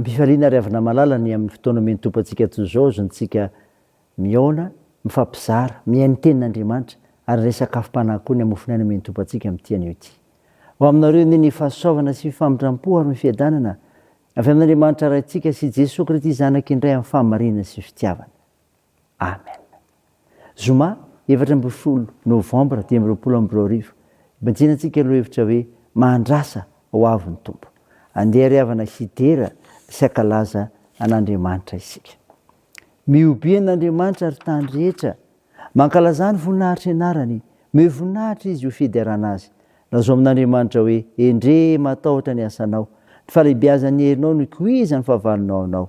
Ampifaliana ary avy namalala ny amin'ny fotoana omen'ny Tompo antsika toy izao azontsika mihaona, mifampizara, mihaino ny Tenin'Andriamanitra ary indray sakafom-panahy koa ny hamofony aina omen'ny Tompo antsika amin'ity anio ity. Ho aminareo anie ny fahasoavana sy ny famindram-po ary ny fiadanana avy amin'Andriamanitra Raintsika sy Jesoa Kristy Zanak'Indray amin'ny fahamarinana sy fitiavana. Amen. Zoma efatra ambin'ny folo novambra dimy amby roapolo amby roa arivo, Ibanjina antsika lohahevitra hoe Mahandrasa ho avy ny Tompo. Andeha ry havana hidera sy hankalaza an'Andriamanitra isika. Mihobiha an'Andriamanitra ry tany rehetra, mankalazà ny voninahitr'ny anarany, mihoe voninahitra izy ho fiderana azy. Lazao amin'Andriamanitra hoe, Endrey, matahotra ny asanao, ny falehibiazan'ny herinao no ikoizan'ny fahavalonao anao.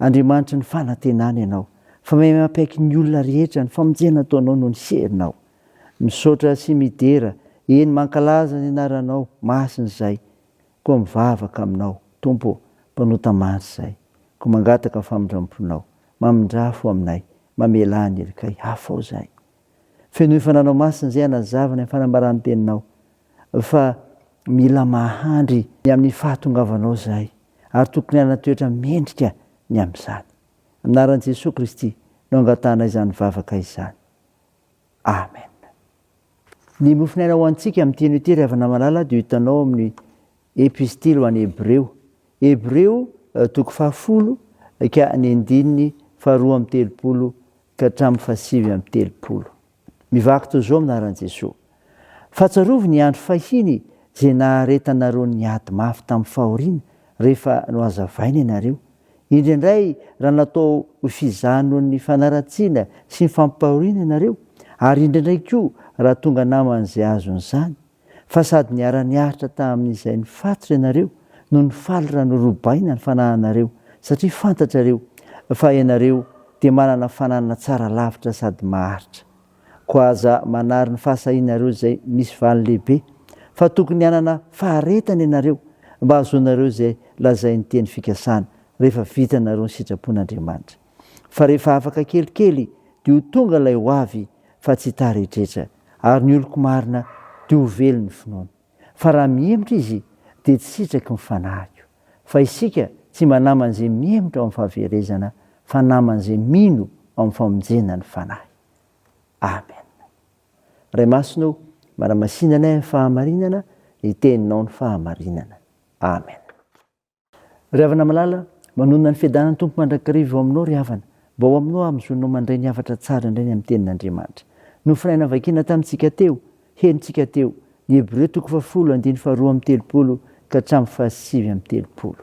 Andriamanitry ny fanantenana ianao, fa mahay mampiaiky ny olona rehetra, ny famonjena ataonao no ny serinao. Misaotra sy midera, eny mankalaza ny anaranao masina izahay, koa mivavaka aminao, Tompo ô, mpanota maro izahay, koa mangataka famindramponao, mamindrafo aminay, mamelà ny helikay, afao izahay, Fenoy fananao masina izay hanazava ny fanambaràn-teninao fa mila mahandry ny amin'ny fahatongavanao izahay ary tokony hanana toetra mendrika ny amin'izany. Amin'ny anaran'i Jesoa Kristy no angatahana izany vavaka izany. Amen. Ny mofon'aina ho antsika amin'ny teny hoe tery havana malala dia ho hitanao amin'ny Epistily ho an'ny Hebreo, Hebreo, toko fahafolo ka ny andininy faharoa amby telopolo ka hatramin'ny fahasivy amby telopolo. Mivaky toy izao minaran'i Jesoa, Fahatsiarovy ny andro fahiny izay naharetanareo ny ady mafy tamin'ny fahoriana rehefa nohazavaina ianareo, indraindray raha natao ho fizaha noho ny fanaratsiana sy ny fampahoriana ianareo, ary indraindray koa raha tonga naman'izay azon'izany. fa sady niara-niaritra tamin'izay nifatotra ianareo no nifaly raha norobaina ny fanahinareo, satria fantatrareo fa ianareo dia manana fananana tsara lavitra sady maharitra. Koa aza manary ny fahasahianareo izay misy valiny lehibe, fa tokony hanana faharetana ianareo mba hahazoanareo izay lazain'ny teny fikasana, rehefa vitanareo ny sitrapon'Andriamanitra. fa rehefa afaka kelikely dia ho tonga ilay ho avy fa tsy tara etretra, ary ny oloko marina dia ho velo ny finoany. Fa raha mihemotra izy dia tsy sitraky ny fanahiko. Fa isika tsy mba naman'izay mihemotra ao amin'ny fahaverezana fa naman'izay mino ao amin'ny famonjena ny fanahy. Amen. Ray Masina o, manamasinanay amin'ny fahamarinana ny teninao ny fahamarinana. Amen. Ry havana malala, manonona ny fiadanan'ny Tompo mandrakariva eo aminao ry havana, mba ho aminao hahazoanao mandray ny hafatra tsara indray ny amin'ny Tenin'Andriamanitra. Nofonaina vakina tamintsika teo, henontsika teo, ny Hebreo toko fahafolo andiny faharoa amby telopolo ka hatramin'ny fahasivy amby telopolo.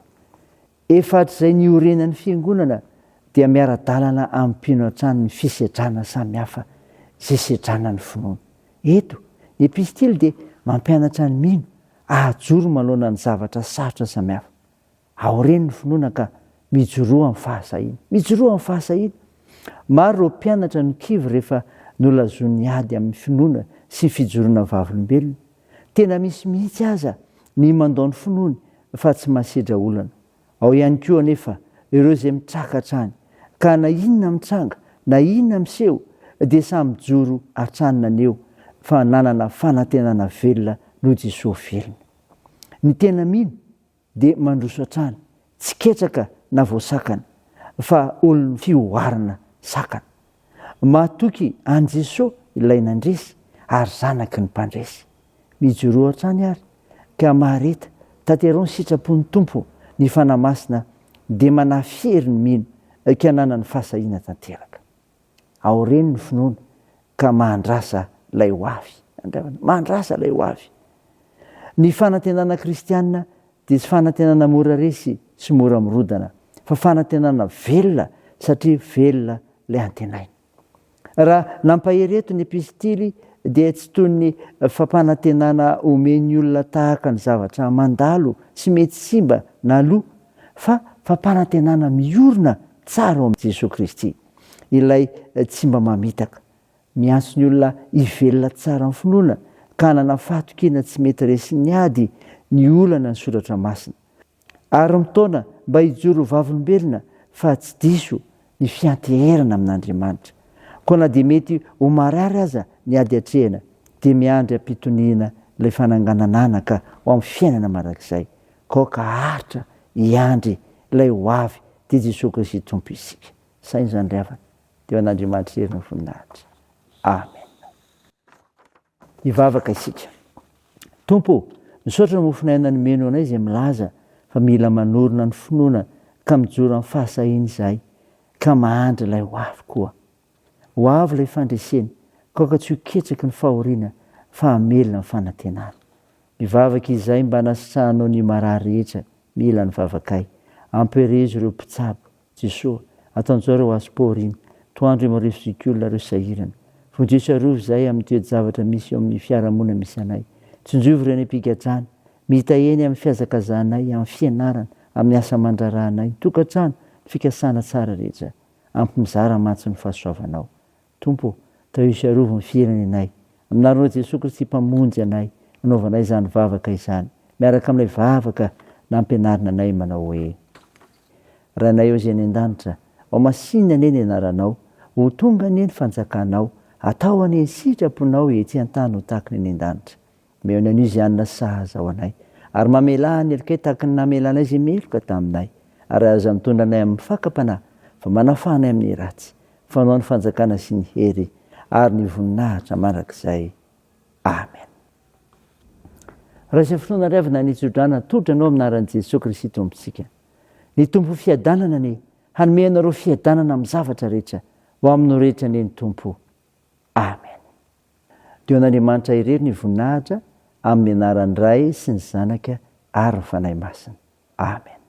Efa hatrizay niorenan'ny Fiangonana dia miara-dalana amin'ny mpino hatrany ny fisedrana samihafa izay sedrana ny finoana. Eto, ny Epistily dia mampianatra ny mino Ahajoro manoloana ny zavatra sarotra samihafa. Aoreno ny finoana ka mijoroa amin'ny fahasahiana. Mijoroa amin'ny fahasahiana. Maro ireo mpianatra no kivy rehefa nolazoin'ny ady amin'ny finoana sy fijoroana vavolombelona. Tena misy mihitsy aza ny mandao ny finoany fa tsy masedra olana. Ao ihany koa anefa ireo izay mitraka hatrany ka na inona mitranga na inona miseho dia samy mijoro hatrany naneho fa nanana fanantenana velona noho Jesoa velona. Ny tena mino dia mandroso hatrany tsy ketraka na voasakana fa olon'ny fihoarana sakana. Matoky an'i Jesoa ilay nandresy ary zanaky ny mpandresy. Mijoroa hatrany ary ka mahareta, tateraho ny sitrapon'ny Tompo, ny Fanahy Masina dia manahy fiery ny mino ka ananany fahasahiana tanteraka. Aoreno ny finoana ka mahandrasa ilay ho avy. Andrasana, mahandrasa ilay ho avy. Ny fanantenana kristiana dia tsy fanantenana mora resy sy mora mirodana fa fanantenana velona satria velona ilay antenaina. Raha nampahery eto ny epistily dia tsy toy ny fampanantenana omen'ny olona tahaka ny zavatra mandalo sy mety simba na lo fa fampanantenana miorina tsara ao amin'i Jesoa Kristy, ilay tsy mba mamitaka Miantso ny olona hivelona tsara amin'ny finoana ka hanana fahatokiana tsy mety resin'ny ady ny olana ny soratra masina. Ary mitaona mba hijoro ho vavolombelona fa tsy diso ny fianteherana amin'Andriamanitra. Koa na dia mety ho marary aza ny ady atrehina dia miandry am-pitoniana ilay fananganana anaka ho amin'ny fiainana mandrakizay. Kaoka haharitra hiandry ilay ho avy dia Jesoa Kristy Tompo isika. Sahy izany ry havana. Dia ho an'Andriamanitra irery ny voninahitra. Amen. Hivavaka isika. Tompo ô, misaotra ny mofon'aina nomeno anay izay milaza fa mila manorina ny finoana ka mijoro amin'ny fahasahiana izahay ka mahandry ilay ho avy koa. Ho avy ilay fandresena, kaoka tsy ho ketsaky ny fahoriana fa hamelona ny fanantenana. Mivavaka izahay mba anasitrahanao ny marary rehetra mila ny vavakay. Ampiherezo ireo mpitsabo Jesoa, ataonjao ireo azy paoro iny, toandro io marivo zoky olona ireo sahirana. Vonjeo sy arovy izahay amin'ny toe-javatra misy eo amin'ny fiarahamonina misy anay. Tsinjovy ireo any am-pigadrana, mita eny amin'ny fihazakazanay, amin'ny fianarana, amin'ny asa aman-draharahanay, ny tokantrano, ny fikasana tsara rehetra. Ampy mizara mantsy ny fahasoavanao. Tompo ô, tahio arovy ny firenenay Aminareo Jesoa Kristy Mpamonjy anay anaovanay izany vavaka izany miaraka amin'ilay vavaka nampianarina anay manao hoe, Rainay ô izay any an-danitra, ho masinina anie ny anaranao, ho tonga anie ny fanjakanao, atao anie ny sitraponao etsy an-tany ho tahaka ny any an-danitra. Mihaino an'io izay hanana sahaza ho anay, ary mamelà ny helokay tahaka ny namelà anay izay meloka taminay, ary aza mitondra anay amin'ny fakam-panahy, fa manafaha anay amin'ny ratsy, fa anao ny fanjakana sy ny hery ary ny voninahitra mandrakizay. Amen. Raha izay fotoana ary avy na ny tso-drano atolotra anao amin'ny anaran'i Jesoa Kristy Tompontsika. Ny Tompo fiadanana anie, hanome anareo fiadanana amin'ny zavatra rehetra, ho aminao rehetra anie ny Tompo. Amen. Dia ho an'Andriamanitra irery ny voninahitra amin'ny anaran'ny Ray sy ny Zanaka ary ny Fanahy Masina. Amen.